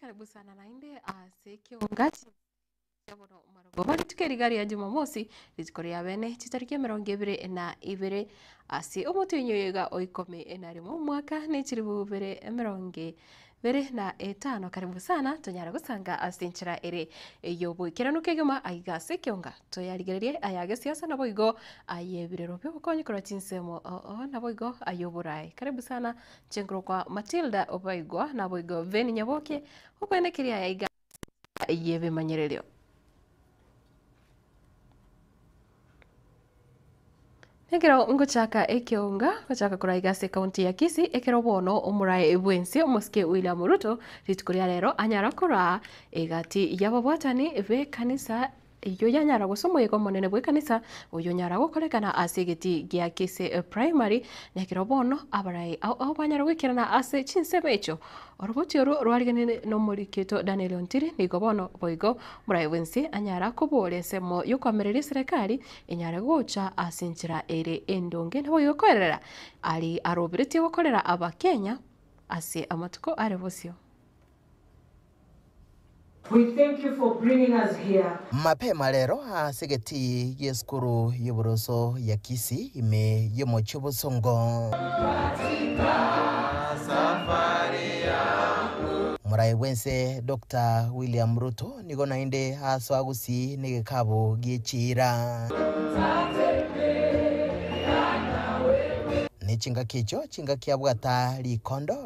Karibusana naende ase ekeonga kiaboro marogoba rituko riga ria Jumamosi, rituko ria bene, chitariki emerongo ebere na ibere ase omotienyi oyoiga oikome na rimo omwaka ne chiribu bere emerongo bere na etano. Karibu sana tonyare gosanga ase enchera ere ey'oboikeranu kegima aiga ase ekeonga. Toyarigererie aya agesiasa naboigo ay'ebirero bi'obokonyi korwa chinsemo oo naboigo ay'oboraai. Karibu sana nche nkorokwa Matilda obaigwa naboigo Ben Nyaboke, okoenekeria aya aiga. egesaku eyio ebimanyererio. Ekero ngochaka ekeonga gochaka koraiga ase county ya Kisii, ekero bono omorae bwensi omosike William Ruto rituko ria rero anyara koraa egati yababwatani b'ekanisa. Eyio yanyara gose omoika omonene bw'ekanisa oyo nyara gokorekana ase egeti gia Kise Primary, na ekero bono abarai ao ao banyara goikerana ase chinsemo echio. Oroboti oro rwarigeneire n'omoriketo Daniel Ontiri nigo bono boigo morai bwensi anyara kobooria ensemo y'okoamereria eserekari enyare gocha ase enchera ere endonge naboigo koerera aria aroberetie gokorera Abakenya ase amatuko are bosio. We thank you for bringing us here. Mapema rero ase egetii gi'esukuru y'oboroso ya Kisii ime y'omochie o Bosongo, Moraia bw'ense Doctor William Ruto nigo naende aasoa Gusii n'egekaabu gie chiira, ne chingaki echio chingaki abwata rikondo.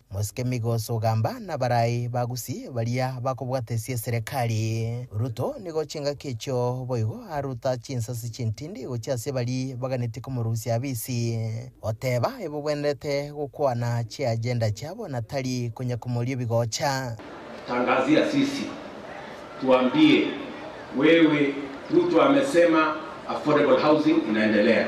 Mosike migoso ogamba nabarai ba Gusii baria bakobwatesia eserekari. Ruto nigo chingaki echio boigo aruta chinsasi chintindi gochia ase bari baganetie komorusia abisi, oteba ebogwenerete gokwana chiagenda chiabo na tari konya komoria ebigocha. Tangazia sisi tuambie wewe Ruto amesema affordable housing inaendelea.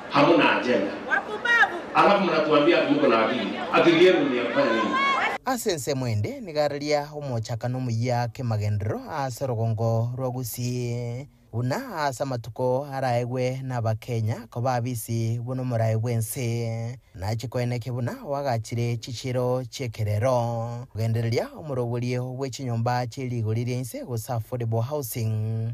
amo na agenda. Alafu munatuambia ati muko na akili. Akili yenu ni ya kufanya nini? Ase ensemo ende nigo araria omochaka na omoyia k'emagenderero aase orogongo rwa Gusii, buna aase amatuko araegwe n'Abakenya koba abisi buna omorai bw'ense, nache koenekia buna oagachire chichiero chi'ekerero, kogendereria omoro oborie obwe chinyomba chie rigori ri'ense gose affordable housing.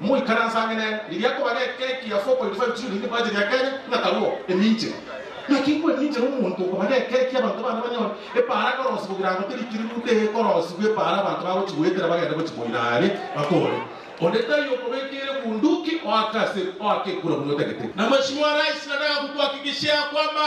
Moikaranse ang'e nere, riria akobara ekeki ya 4.5 shilling ebacheti ya Kenya, ng'akarwo eminche. Naki igo eminche nomonto okobara ekeki abanto bande banyore epaara korosi kogira ngo teri kiri ruta egekorosigwa epaara abanto bagochi goetera bagende gochi koira are batore. Onde taiyo okobekeire bunduki oake ase oake ekura buna otagete. Namashimo a rais nataka kukuhakikishia ya kwamba.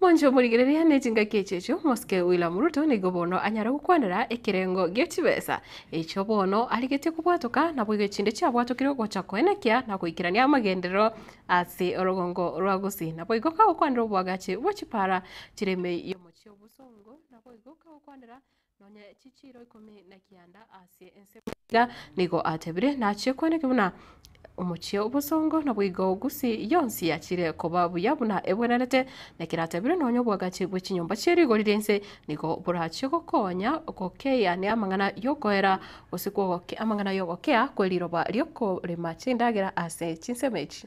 Moncho morigereria ne chingaki echi echio, omosike William Ruto nigo bono anyare gokwanera ekerengo gie chibesa echio bono arigetie kobwatoka naboigo chinde chiabwatokire gocha koenekia na goikerania amagenderero ase orogongo rwa gusii. Naboigo kagokwanera obwagachi bwe chipara chire emei y'omochie obosongo naboigo kagokwanera Nonya chichiiro ikomi na kianda ase ense bw'eira nigo atebire, nachie kweneke buna omochie obosongo, naboigo Gusi yonsi yachire koba buya buna ebwenerete, na keratebire nonya obwagachi bwe chinyomba chie rigori ri'ense nigo borachie gokonya gokeia ne amang'ana y'okoera, gose kw'ogokea amang'ana y'ogokea kwe riroba ri'okorema chindagera ase chinsemo echi.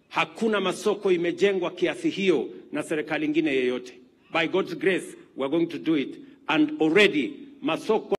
Hakuna masoko imejengwa kiasi hiyo na serikali ingine yeyote. By God's grace we are going to do it and already masoko.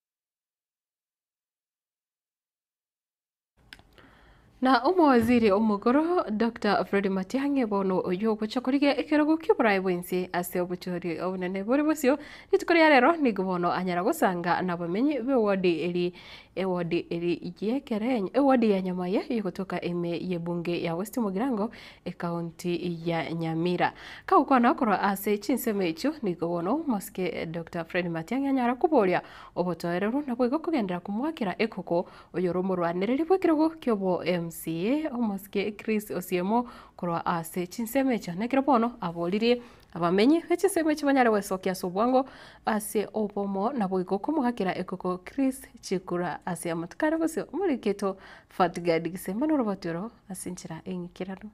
Na Omowaziri Omokoro, Doctor Fred Matiang'i, bono oyio ogocha korigia ekerogo ki'oboraai bw'ense ase obochori obonene bore bosio. Rituko ria rero nigo bono anyara gosanga nabamenyi b'ewodi eria Ewodi eri y'ekerenyo, ewodi ya nyama ye y'ogotoka ime y'ebunge ya West Mugirango, ekaonti ya Nyamira. Kagokwana korwa ase chinsemo echio, nigo bono omosike Doctor Fred Matiang'i anyara koboria obotoereru naboigo kogenderera komoakera ekoko oyore omorwanereri bw'ekerogo ki'obo MCA, omosike Chris Osiemo korwa ase chinsemo echio, nekero bono aboririe Abamenyi be chinsemo echi banyare gwesokia ase obwango ase obomo naboigo komogakera ekoko Chris Chikura ase Amatokare gose omoriri keito Fatgard Gisemba noroboti oro ase enchera eng'ikeranu.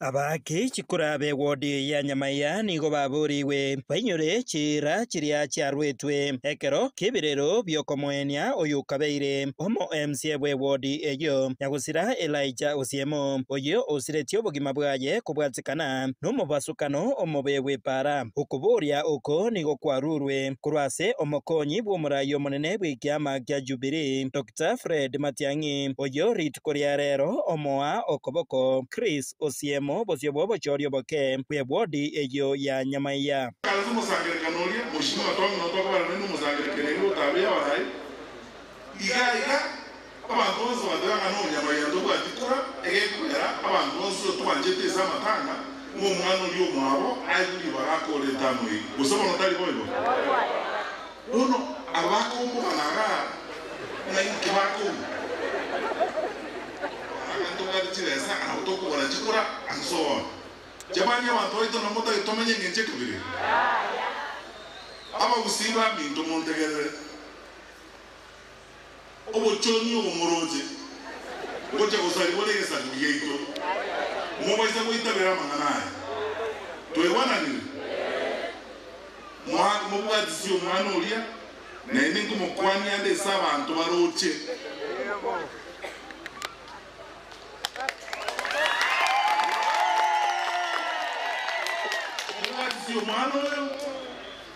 Aba ki chikura be ward ya Nyamaiya nigo baborigwe bainyore chiira chiria chiaruetwe ekero k'ebirero bi'okomoenia oyokabeire Omoeemsie bw'ewodi eyio ya gosira Elija Osiemo, oyio osiretie obogima bwaye kobwatikana nomobasukano omobe bw'epaara. Okobooria oko nigo kwaruurwe korwa ase omokonyi bw'omorai omonene bw'ekiama kia Jubilee, Doctor Fred Matiang'i, oyio rituko ria reero omoa okoboko Chris Osiemo bosio bw'obochooria oboke bw'ewodi eyio ya Nyamaiya. Kaancha omosangererekano oria, Mheshimiwa Tong'ina otogobera nere nomosangererekano oria otabeyo aye, Iga iga, abanto bonsi bateba ng'a nobonyamaiga ntobwati kora, egekogera abanto bonsi otwanchete ase amatanga, ng'a omwana oria omwabo aigwe ribaga akore entano eye. Gose bono tari boigo? Bono aba bakombogana agaa, ng'a inki bakong'a? Barabwo ntobwate chibesa, nabo tokogora chikura ase oone. Chabani abanto baito na motagete tomenye engencho ekabere. Abagusii baminto montegerere. Obochoni obo moroche gocha gosarigwa negesaku giaito, mobaisa goitabera amang'ana aya. Twaigwananire? Moa, mobwatisie omwana oria, naende nkomokwania ande ase abanto baroche.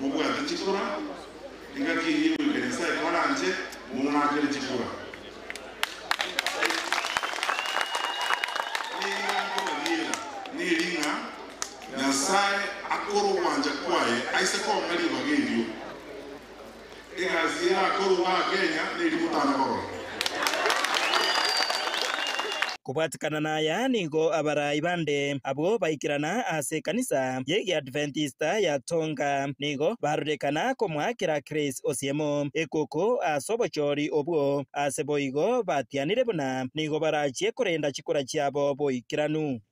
mobwate chikura, engaki eyio egoika Nyasae kwaranche morakere chikura. Nigo nkobariera neri ng'a Nyasae akore ogwancha kwaye aise kong'a ribaga erio. Egasi eye nakorwa aa Kenya neri gotana korora. Kobwatikana naya nigo abarai bande abwo baikerana ase ekanisa y'egiadventista ya Tonga. Nigo barurekana komoakera Chris Osiemo ekoko ase obochori obwo ase boigo batianire buna nigo barachie korenda chikura chiabo boikeranu.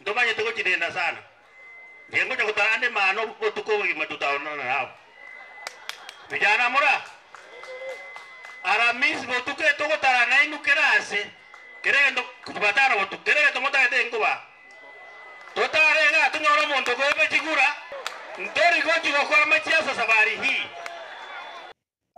Ntomanyete gochidenda sana. Inche ngocha gotarande mano botuko obogima totaonana nabo. Vijana mura? Aramisi botuko eye togotara nainwe kera ase. Kera egento Jumatano botuko. Kera egento motagete inkoba. Totare iga tonyore omonto okoepa chigura. Ntori gochi gokora machiaso safari hii.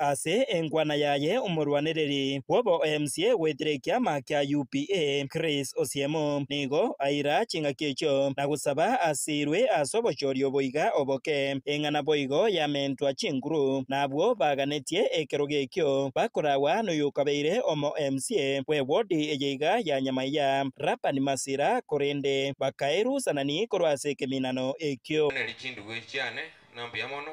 Ase enkwana yaye omorwanereri bw'oboemsie goetera ekiama kia UPA, Chris Osiemo, nigo aira chingaki echio na gosaba asiirwe ase obochoria oboiga oboke. Eng'a naboigo yamentwa chinguru, na abwo baganetie ekerogo ekio bakoragwa noyokabeire omoemsie bw'ewodi eye iga ya Nyamaiya, Laban Masira, korende bakaerusanani korwa ase ekeminano ekio. Oneri chinduwe chiane, na mbuya mono,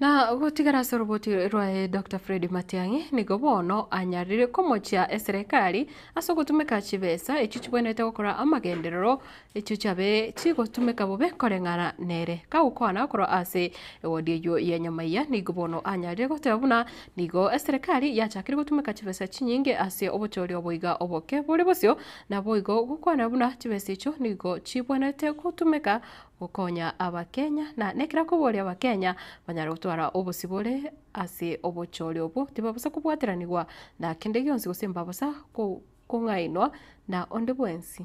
Na gotigara ase oroboti rwaye Doctor Fred Matiang'i nigo bono anyarire komochia eserekari ase ogotumeka chibesa echio chibwenerete gokora amagenderero echio chiabe chigotumeka bobe koreng'ana nere. Kagokwana korwa ase ewodi eyio ya Nyamaiya nigo bono anyarire goteba buna nigo eserekari yachakire gotumeka chibesa chinyinge ase obochori obo iga oboke bore bosio naboigo gokwana buna chibesa echio nigo chibwenerete gotumeka gokonya abakenya na nekera koboria abakenya banyare gotwara obosibore ase obochore obwo tibabosa kobwateranigwa na kende gionsi gose mbabosa kong'ainwa na onde bwensi.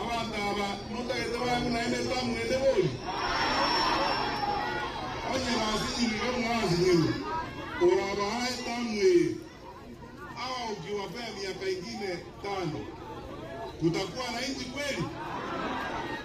Abanto aba notagete bang'u naende ntamwende bori. Onye basinyiru iga buna basinyiru, orabahae etamu eye, abagoki bafe emiaka engima etano. Gotakwana inchi kweri?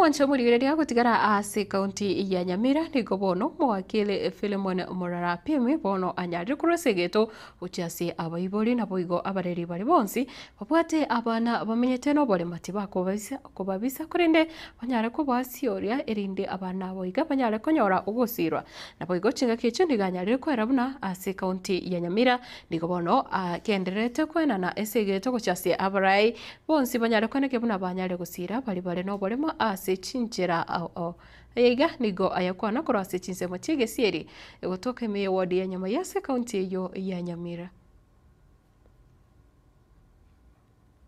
Omonto omorigereria agotigara aase ekaunti ya Nyamira nigo bono omogakere Philemon Murara Pim bono anyarire korwa ase egeto gochia ase abaibori. Naboigo abareri baria bonsi babwate abana bamenyete noborema tibakobaisa kobabisa korende banyare kobasiooria erinde abana abo iga banyare konyora ogosiirwa. Naboigo chingaki echio nigo anyarire kwera buna ase ekaunti ya Nyamira nigo bono agendererete koenana ase egeto gochia ase abarai Bonsi banyarekwaneke buna banyare gosiira baria bare noboremo ase chinchera ao. Aya iga nigo ayakwana korwa ase chinsemo chi'egesieri gotoka ime ye ward ya Nyamai ase county eyio ya Nyamira.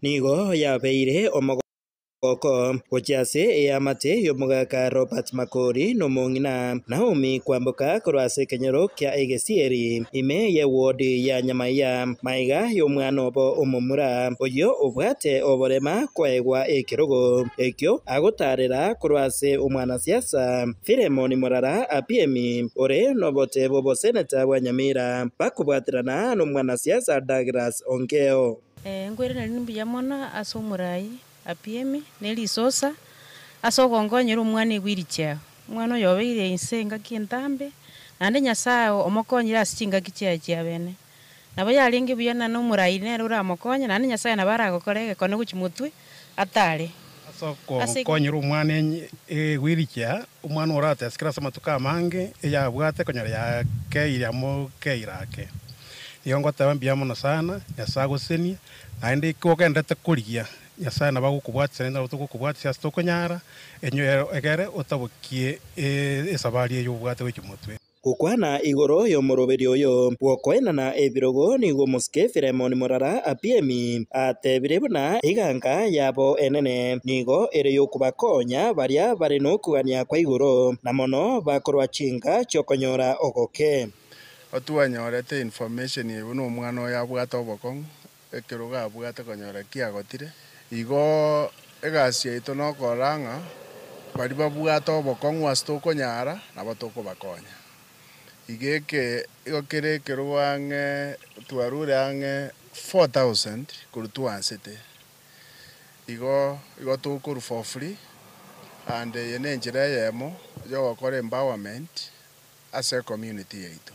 Nigo yabeire omogooko gochia ase eamate y'omogaka Robert Makori nomong'ina Naomi kwamboka korwa ase ekenyoro kia egesieri ime ye ward ya Nyamai ya. Maiga y'omwana obo omomura, oyio obwate oborema kwaegwa ekerogo ekio agotaarera korwa ase omwanasiasa Philemon Morara Apiemi ore nobote bw'oboseneta bwa Nyamira, bakobwaterana nomwanasiasa Douglas Ongeo. Nkwereneri nimbuya mono ase omorai Apiemi ne risosa ase ogongonyera omwana igwe iri chiao. Omwana oyo obeire inse engaki entambe, naende Nyasae omokonyire ase chingaki chiaye chiabene. Nabo yarenge buya na nomorairi nere oramokonye, naende Nyasae nabo aragokora egekone gochia motwe atare. Ase okokonyera omwana egwirikia, omwana oratesikire ase amatuko amange eyabwate konyora yakeire amo keire ake. Nigo ngoteba mbuya mono sana, Nyasae agosesenie, naende ekio ogenderete korigia, Nyasae nabo agokobwatisia naende nabo togokobwatisia ase tokonyara, egere otabokie esabari eye obwate gochia motwe. Gokwana igoro y'omoroberio oyo bw'okoenana ebirogo nigo omosike Filemoni morara Apiemi atebirie buna eganka yabo enene nigo ere y'okobakonya baria bare nokogania kwa igoro, na mono bakorwa chinka chi'okonyora ogoke. Otwanyorete information eye buna omwana oyo abwate obokong'u Ekero gabwate konyora ki agotire, igo egasi yaito nokorora ng'a baria babwate obokong'u ase tokonyara nabo tokobakonya. Iga igo kera ekerwa ang'e twarure ang'e four thousand korwa twansete. Igo igo tokorwa for free and eye nenchera eyemo yogokora empowerment ase ecommunity yaito.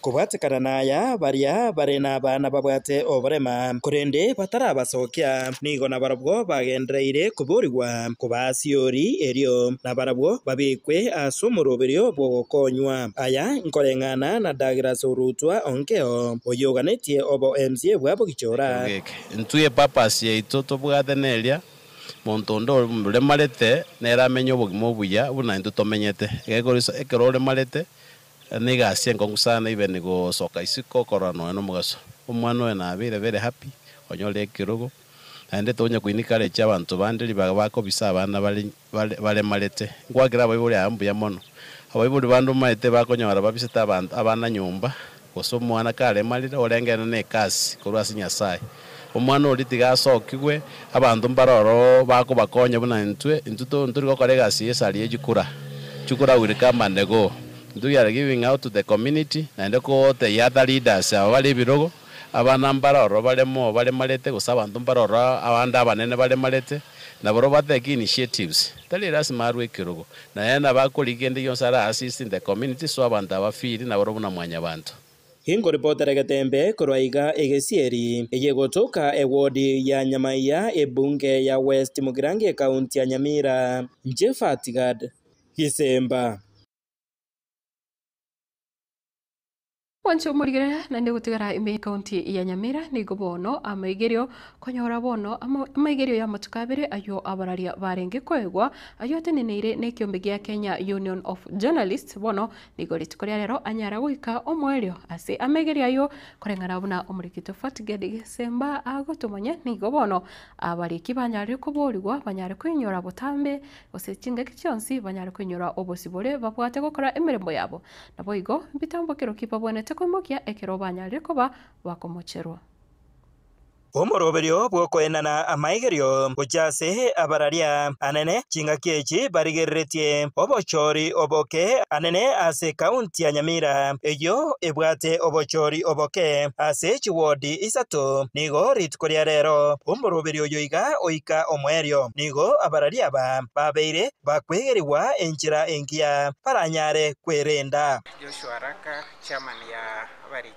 Kobwatekana naya, baria bare nabana babwate oborema, korende batarabasokia, nigo nabarabwo bagendereire koborigwa koba as'igori erio, nabarabwo babekwe as'omoroberio bw'ogokonywa. Aya nkoreng'ana na Douglas Orutwa Onkeo, oyoganetie obo MCA bwa Bogichora. Ekero geke, intwe epurpose yaito tobwate neria, monto onde oremarete nere amenye obogima obuya buna intwe tomenyete. Egekoriso, ekero oremarete, Ere nigo ase enkong'u sana ibe nigo ogosoka isiko okorora nonya nomogaso. Omwana oye nabeire very happy onyore ekerogo naende tonya koinikarecha abanto bande ribaga bakobisa abana bare baremarete. Nkwakera abaibori aba mbuya mono. Abaibori bande omaete bakonyora babisete abanto abana nyomba gose omwana karemarire orengene nekasi korwa ase Nyasaye. Omwana oria tiga asokigwe, abanto mbare oro bakobakonya buna intwe. Intwe ntori gokora egasi eye sari ye chikura. Chikura will come and go. Intwe we are giving out to the community naende koteyia ata leaders aba bare ebirogo, abana mbare oro bare moo baremarete gose abanto mbare oro abande abanene baremarete. Nabarobwo ba take initiatives. Tari lasima arwe ekerogo. Naye nabo akorigia kende gionsi are assist in the community so abanto aba feel nabarobwo buna mwanyabanto. Inkoripotere getembe korwa iga egesieri eye gotoka ewodi ya Nyamaiya ebunge ya West Mugirango ekaunti ya Nyamira. Jephat Gad, Gisemba. Mwanche omorigere naende gotigara ime y'Ekaunti ya Nyamira nigo bono amaigerio konyora bono amaigerio y'amatuko abere ayio abararia barenge koegwa ayio ateneneire n'ekiombe gia Kenya Union of Journalists bono Nigo rituko ria rero anyare goika omoerio ase amaigerio ayio, koreng'ana buna omorekito Fortgerd Gisemba agotomanya, nigo bono abariki banyarire koboorigwa banyare koinyora botambe, gose chingaki chionsi banyare koinyora obosibore babwate gokora emeremo yabo. Naboigo, mbitambokero ki babwenerete koimokia ekero banyarire koba bakomocherwa? Omoroberio bw'okoenana amaigerio ngochia ase abararia anene chingaki echi barigereretie obochori oboke anene ase County ya Nyamira eyio ebwate obochori oboke ase chiwodi isato nigo rituko ria rero omoroberio oyo iga oika omoerio nigo abararia aba babeire bakwegerigwa enchera engiya baranyare kwerenda. Joshua Raka, Chairman ya Abariri.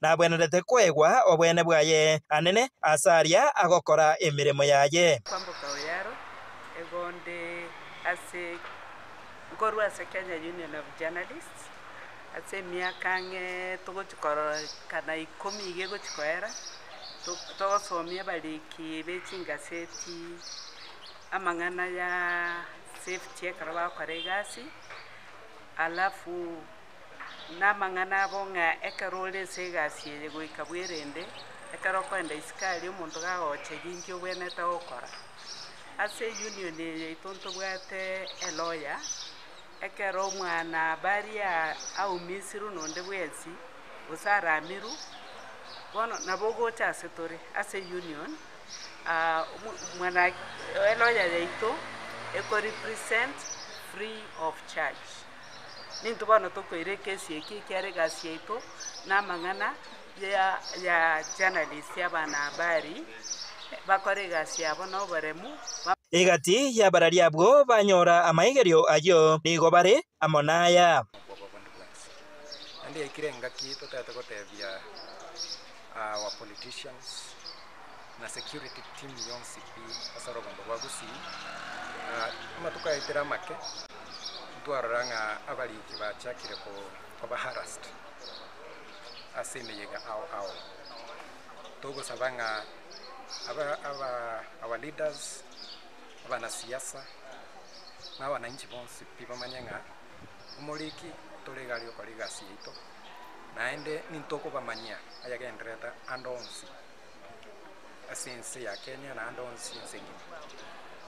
Nagwenerete koegwa obweene bwaye, anene, ase aria agokora emeremo yaye. Kwamboka oyo aro egonde ase nkorwa ase Kenya Union of Journalists ase emiaka ang'e togochia kororekana ikomi iga egochia koera togosomia abariki be chingaseti amang'ana ya safety ekero bagokora egasi alafu. Namang'ana abo ng'a ekero ore ense egasi eye goika bwerende, ekero okoenda isiko aria omonto gagocha egenki obwenerete gokora. Ase union eye yaito ntobwate eloya, ekero omwanabari aumisirwe nonde bwensi, gose aramirwe, bono nabo ogocha ase tore ase union eloya yaito eko represent free of charge. Nintwe bono tokoira ekesi eke ekiara egasi yaito namang'ana ya ya journalist abana habari bakore egasi yabo noboremu ba. Egati y'abarari abwo banyora amaigerio ayio nigo bare amo naya. Okwobwa bonde bwensi. Naende yaikire engaki totaete gotebia. our politicians na security team yonsi pi ase orogombo rwa Gusii. Amatuko ayaetire amake ntwarora ng'a abariki bachakire koba harassed ase emeyega ao ao. Togosaba ng'a aba aba our leaders, abanasiasa na abananchi bonsi pi bamanye ng'a omoriki tore iga aria okora egasi yaito. Naende nintokobamanyia ayagendererete ande onsi ase ense ya Kenya na ande onsi ense engima.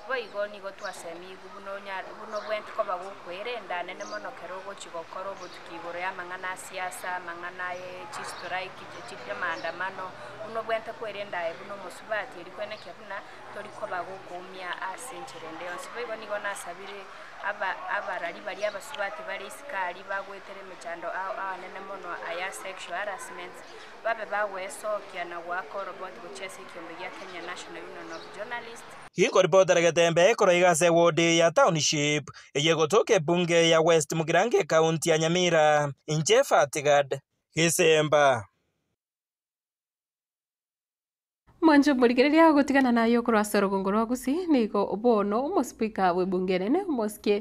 Boigo nigo twasemigwe buna onyare buna obwenti koba gokwerenda anene mono kero ogochi gokora obotuki igoro ya amang'ana a siasa, amang'ana aye chi strike, chi amaandamano, buna obwente kwerenda aye buna omosubati eri kwenekia buna tori koba gokoumia ase enchera ende yonsi. Boigo nigo nasabire aba, abarari baria abasubati bare Isikari, bagwetera emechando ao amanene mono aya sexual harassment, babe bagwesokia na goaka oroboti gochia ase ekiombe gia Kenya National Union of Journalists, Inkoripotera getembe korwa iga ase ewodi ya Township eye egotoka ebunge ya West Mugirango ecounty ya Nyamira, inche Fatgard Gisemba. Mwanche omorigereria agotigana naye okorwa ase orogongo rwa Gusii, nigo bono omosipika bw'ebunge enene, omosikie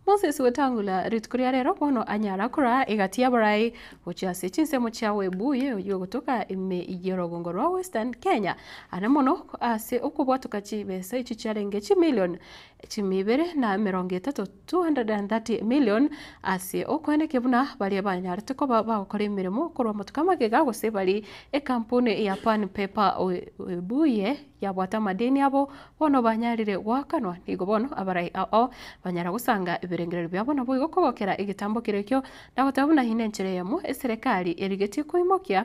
Moses Wetangula, rituko ria rero bono anyara koraa egati y'abarai gochia ase chinsemo chia Webuye oyio ogotoka ime y'orogongo rwa Western Kenya, are mono ase okobwatoka chibesa echi chiarenge chimillion chimi ibere na emerongo etato, 230 million, ase okweneke buna baria banyarete koba bagokora emeremo korwa amatuko amagega gose bari ekampuni ya Pan Paper Webuye yabwate amadeni abo bono banyarire goakanwa, nigo bono abarai ao banyara gosanga ebirengererio biabo naboigo kogokera egetambo keria ekio, na goteba buna eye nenchera eyemo eserekari erigetie koimokia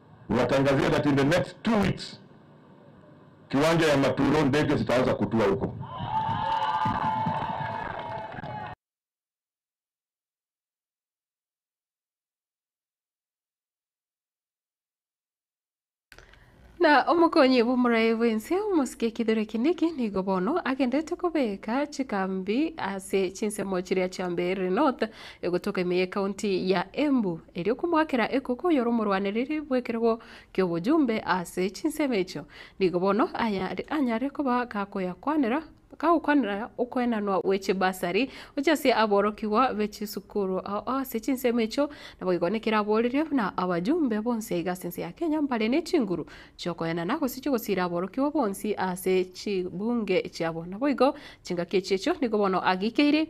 Nibatangazire that in the next two weeks kiwanja ya Maturo ndege zitaanza kutua huko. Na omokonyi bw'omoraia bw'ense omosike ekidhore kende eki nigo bono agendete kobeka chikambi ase chinsemo chiria chia Mbeere North egotoka ime y'ekaunti ya Embu, erio komoakera ekoko oyore omorwanereri bw'ekerogo ki'obojumbe ase chinsemo echio. Nigo bono aya anyare koba gakoyakwanera gagokwanera okoenanwa gwe chibasari gochia ase aborokigwa be chisukuru ase chinsemo echio, naboigo nekero aborerie buna abajumbe bonsi aiga ase ense ya Kenya mbare ne chinguru chi'okoenana gose chi'ogosira aborokigwa bonsi ase chibunge chiabo. Naboigo chingaki echiechio nigo bono ageikeire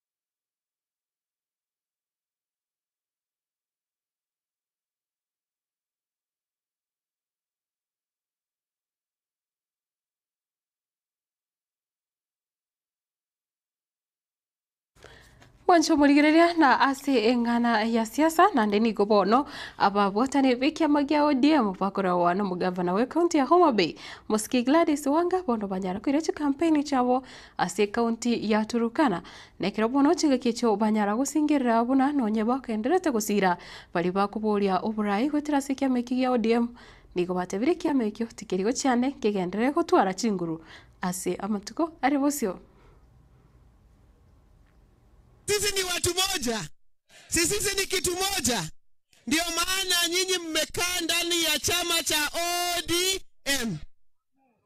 Mwanche omorigereria na ase eng'ana ya siasa naende nigo bono ababwatani b'ekiama gia ODM bakoragwa nomogavana bw'ecounty ya Homabay mosike Gladys Wanga bono banyare koira chikampeini chiabo Ase ekaunti ya Turkana, nekero bono chingaki echio banyara gosingerera buna nonye bagendererete gosira baria bakoboria oborai goetera ase ekiama eki gia ODM nigo batebire ekiama ekio tikeri gochia ande nkegenderere gotwara chinguru ase amatuko are bosio. Sisi ni watu moja, sisisi ni kitu moja, ndio maana nyinyi mmekaa ndani ya chama cha ODM.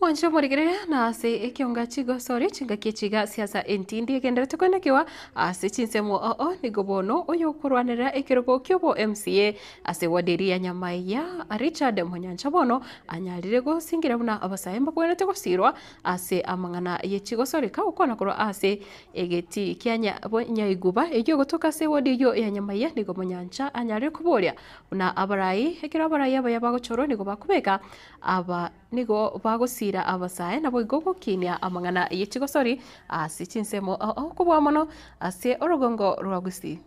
Mwanche omorigerere, na ase ekionga chigosori chingaki chiga si'asa entindi egenderete koinakiwa ase chinsemo oo nigo bono oyokorwanerera ekerogo ki'obo MCA ase ward eria ya Nyamaiya Richard Monyancha bono anyarire gosingira buna abasae mbakwenerete gosirwa ase amang'ana ye chigosori kagokwana korwa ase egeti kia nya Nyaiguba eyio gotoka ase ward eyio ya Nyamaiya nigo Monyancha anyarire koboria buna abarai ekero abarai abaya bagochorwa nigo bakobeka aba Nigo bagosiira abasae, naboigo gokiinia amang'ana ye chigosori ase chinsemo okobua mono ase orogongo rwa Gusii.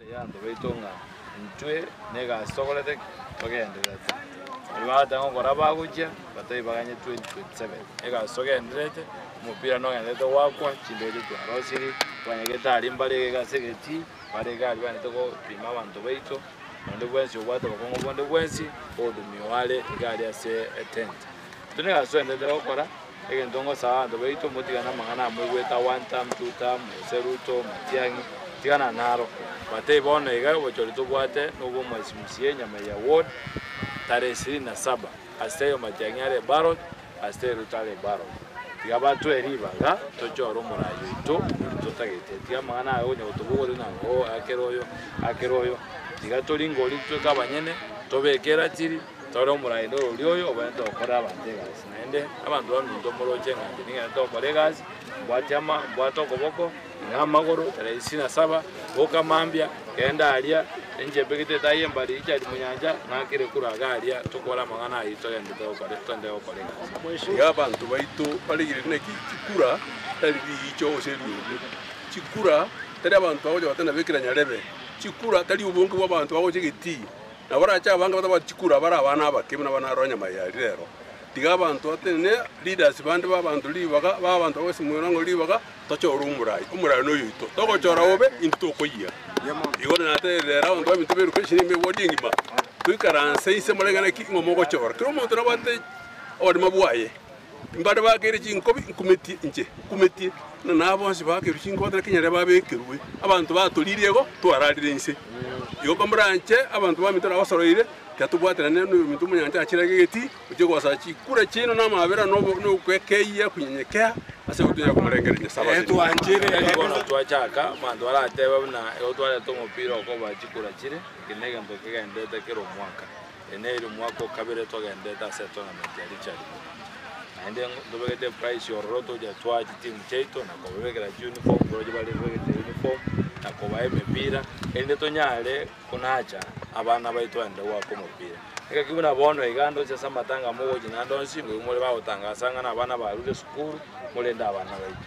Eyanto baito ng'a intwe negasi togorete togendererete. Baria bagateba ng'a okora bagochia batai baganye 2027 egasi togendererete omopira nogendererete goakwa chindege twarosirie twanyagete aria mbarege ase egetii mbarege aria banyete gopima abanto baito. Onde bwensi obwate obokong'u bonde bwensi bw'obotumia oo are iga aria ase etenti. Intwe nigo asuenderete gokora, egento ngosaba abanto baito, motigane namang'ana amoigwete a one term, two term, gose Ruto, Matiang'i, tigana naro. Bwatei bono iga obochori tobwate nobw'omwesi Musie, Nyamaiya ward, tarehe ishirini na saba, ase eyo Matiang'i are ballot, Ase rutaro ebaro, tiga batwee riba ng'a tochore omoraai oito oria totagete. Tiga amang'ana aya onya gotobogorire ng'a oo akere oyo, akere oyo. Tiga tori ngoria tweka abanyene, tobeke eratiri, tore omoraai noro oria oyo obwenerete gokorera abanto egasi. Naende abanto baminto moroche ng'a inche ning'enete gokora egasi, mbwate ama, mbwate okoboko, Namagoro tarehe isini na saba boka mambia kenda aria enchembe gete etaai y'embari ichari monyancha ng'akire kure aga aria tokore amang'ana ayio togende togokore togende gokora egasi. Iga abanto baito barigereria naki chikura tari riicho gose riume. Chikura tari abanto bagocha goteba nabo ekira nyarebe. Chikura tari obonge bw'abanto bagocha egetii. Nabo barache abange batabwati chikura abare abana abake buna abana aroro nyama ya rire ero. Tiga abanto batenene leaders bande b'abanto ribaga b'abanto bagosimera ng'a ribaga Tochora omorai, omorai noyoito, togochora bobe, intwe tokoyia. Igoro naterire ere abanto baminto beruke enchera ime y'ebodi engima, toikaranse inse moreng'ane ki ng'a mogochora. Kera omonto nabwate oborema bwaye. Mbare bakeire chinkobi, nkumetie inche, nkumetie. Buna nabo bonsi bakerwe chinkobi hatari kenyare babekerwe. Abanto batoririe igo, twararire inse. Igo komoranche abanto baminto nabasoroire, tiatobwaterane noyominto omonyancha achirage egetii, Oche gosacha chikura chiaino na amabera na okwekeyia okonyenyekea ase egutwa yaino komorengereria Nyasae. Bono twachaka, abanto baratebe buna igo twareta omopira okoba chikura chire, eke negento kegendererete kera omwaka. Eye nere omwaka okabere twagendererete ase etournament ya Richard Munyonyi. Naende ntobegete eprice ororo togochia twaa chitimu chiaito na kobabekera chiuniform, boroche bare bebegete uniform, na kobaa emepira, erinde tonyare. Konacha, abana baito baende goaka omopira. Ekeki buna bono iga ande onsi ase amatanga amo ogochi naende onsi, ngoigo more bagotangasa ng'a nabana barure esukuru, morende abana baito.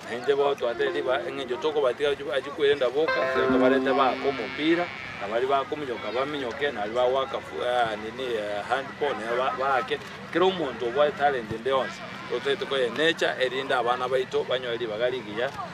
Na inche bono twatera ribaga engencho tokobatiga achu achie kwerenda boka, igo tobarete baake omopira, na baria bakominyoka baminyoke, na baria bagoaka fu- aa nini ee handball nabo ba- baake, kera omonto obwate talent ende yonsi, otagete koyenecha erinde abana baito banyore ribaga rigiya.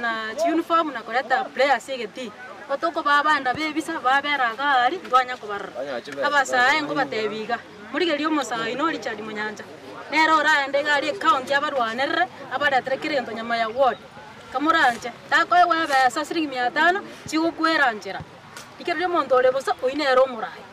na chiunifomu na koreta play ase egetii. Gotokobaa abana b'ebisa babera iga aria ntwanya kobarora. Abasaae nkobateebia iga, morigerie omosaa oino o Richard Munyancha. Nere oraende iga aria ecounty abarwanerere abaretere kera egento nyama ya ward. Kamoranche, takoegwa ebesa siringi mia tano chigokwera nchera. Rigereria omonto ore bosa, oyio nere omoraai.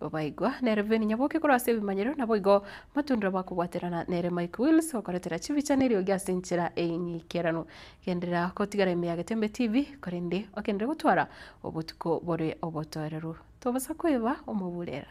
Babaigwa nere Veni Nyaboke korwa ase ebimanyero, naboigo motundora bakobwaterana nere Mike Wills okoretera chibicha na eriogi ase enchera ey'eng'aikerano. Genderera gotigara ime ya Getembe TV korende ogenderere gotwara obotuko bore obotoereru. Tobasa kweba omoburera.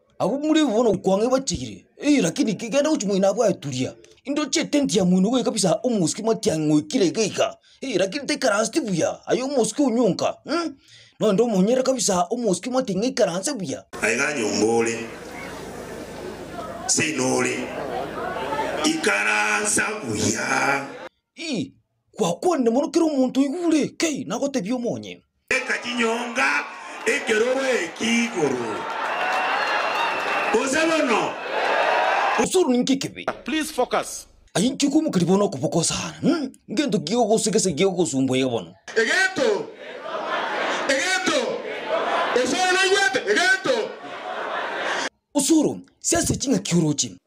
Abwo mure bono okwang'a ebachigire, eeh lakini ki genda gochi moino abwo aye turia, indoche etenti ya moino goika kabisa omosike matiang'i ng'oikire iga iga, eeh lakini taikaransti buya, aye omosike onyonka mh, nonye omonyere kabisa omosike matiang'i ng'aikaranse buya. Aye ga nyomba ore, seino ore, ikaransa buya. Ih. Gwakwanire mono kera omonto oigure, kei, nagotebie omonye. Teka chinyonga ekeroro eki igoro, gose bono. Osoro ninki ekibe? Please focus. Aye inche koimoka ribaga na okoboko sana. Hum. Ngento ki gegogosa gese gegogosumbua iga bono? Egento. Egento. Osoro naigwete. Egento. Osoro, siasia ching'aki oroche.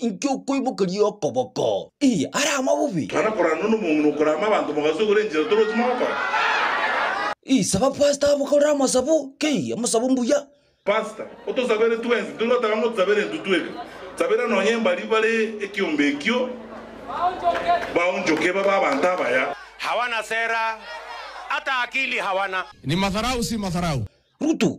Inki okoimokeria okoboko? Ii, ara amabubi. Mana korana nomong'ina okorama abanto mogasogora enchera torochi mogokora. Ii, saba pastor abakorere amasabu. Kei, amasabu mbuya. Pastor, otosabere twensi. Tiri goteba ng'a otusabere intwe tweka. Sabera nonya mbari bare ekiombe ekio baonchoke babe abanto abaya. Hawana sera, hata akili hawana. Ni madharau si madharau. Ruto,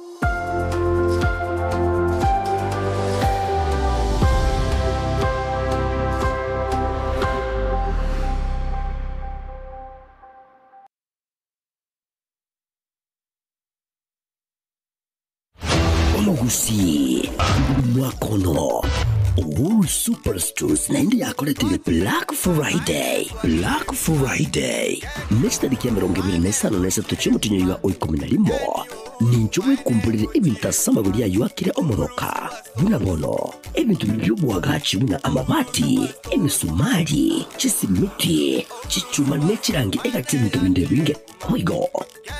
Omogusii omwaka ono Uhuru Superstores naende yakoretire Black Friday. Black Friday nechitari kia emerongo ebere na esano na esato chi'omotinyo iga o ikomi na rimo. Ninche bwekumborire ebinto ase amagori ayio akire omoroka, buna bono, ebinto bibio bi'oboagachi buna amabati, emesumari, chisimiti, chichuma ne chirangi egati y'ebinto binde ebinge. Boigo,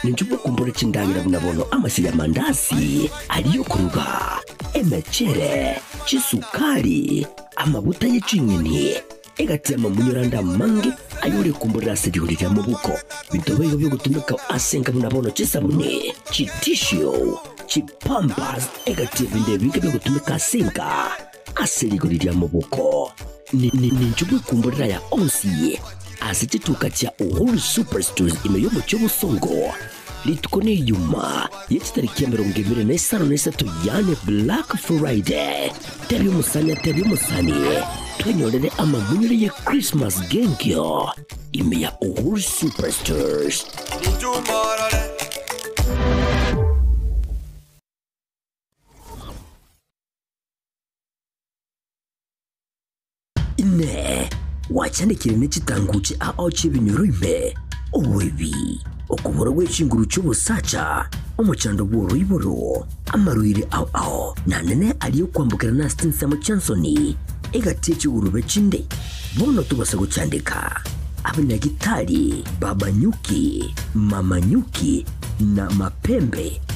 ninche bwekumborire chindagera buna bono amasiri y'amandaasi aria y'okoruga, emechere, chisukari, amaguta ye ching'eni, egati y'amamunyorande amange ayore komborera ase rigori ria mobuko, binto biaito bi'ogotumeka ase enka buna bono chisabuni, chitishio, chipampers, egati y'ebinto ebinge bi'ogotumeka ase enka ase rigori ria mobuko. Ninchwe bw'ekomborera ya onsi ase chituka chia Uhuru Superstores ime y'omochie o Bosongo, Rituko ne Ijumaa ye chitariki emerongo ebere na isano na isato yaani Black Friday. Tebia omosani atebie omosani, Twenyorere amamunyore ye Christmas g'enkio ime ya Uhuru Superstores. Inee! Gwachandekire ne chitangu chiaao chi'ebinyoro ime, oboibi, okobora gwe chinguru chi'obosacha, omochando bw'oroiboro, amaroiri ao ao, na nene aria okwambokera nase chinsemo chi'ensoni egati ye chigurube chinde. Bono tobasa gochandeka abanyagitari b'abanyuki, mamanyuki, na mapembe,